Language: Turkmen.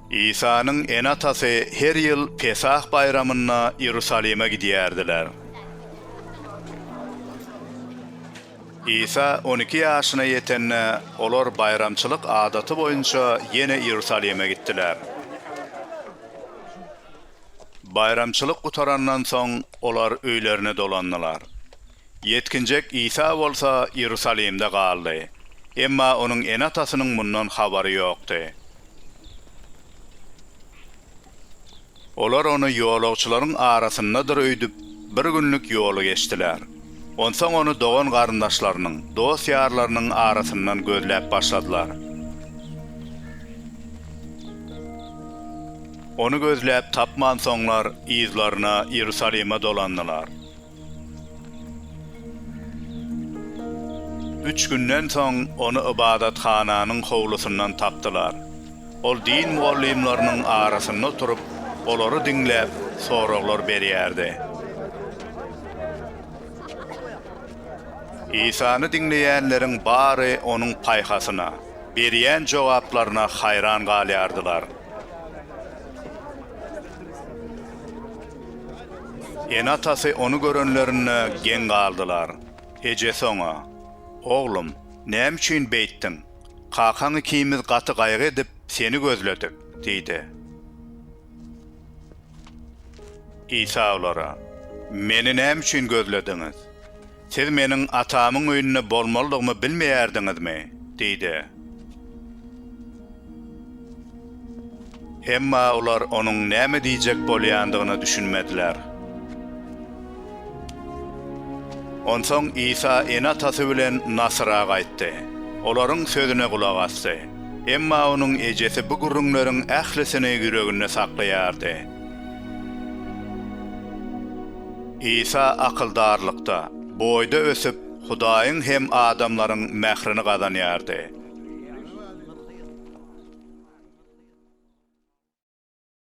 Isanyň ene-atasy her ýyl Pesah baýramynda Iýerusalime gidýärdiler. Isa on iki ýaşyna ýetende, olar baýramçylyk adaty boýunça ýene Iýerusalime gitdiler. Baýramçylyk gutarandan soň, olar öýlerine dolandylar. Ýetginjek Isa bolsa Iýerusalimde galdy. Emma onuň ene-atasynyň mundan habary ýokdy. Olar ony ýolagçylaryň arasyndadyr öýdüp, bir günlük ýoly geçdiler. Onsoň ony dogan-garyndaşlarynyň, dost-ýarlarynyň arasyndan gözläp başladylar. Ony gözläp tapmansoňlar, yzlaryna Iýerusalime dolandylar. Üç günden soň ony ybadathananyň howlusyndan tapdylar. Ol din mugallymlarynyň arasynda oturyp, olary diňläp, soraglar berýärdi. Isany diňleýänleriň bary onuň paýhasyna, berýän jogaplaryna haýran galýardylar. Ene-atasy ony görenlerinde geň galdylar. Ejesi oňa, Oglum, näme üçin beýtdiň? Kakaň ikimiz gaty gaýgy edip, seni gözledik diýdi. Isa olara, Meni näme üçin gözlediňiz? Siz meniň Atamyň öýünde bolmalydygymy bilmeýärdiňizmi? diýdi. Emma olar onuň näme diýjek bolýandygyna düşünmediler. Onsoň Isa ene-atasy bilen Nasyra gaýtdy. Olaryň sözüne gulak asdy. Emma onuň ejesi bu gürrüňleriň ählisini ýüreginde saklaýardy. Isa akyldarlykda, boýda ösüp, Hudaýyň hem adamlaryň mährini gazanýardy.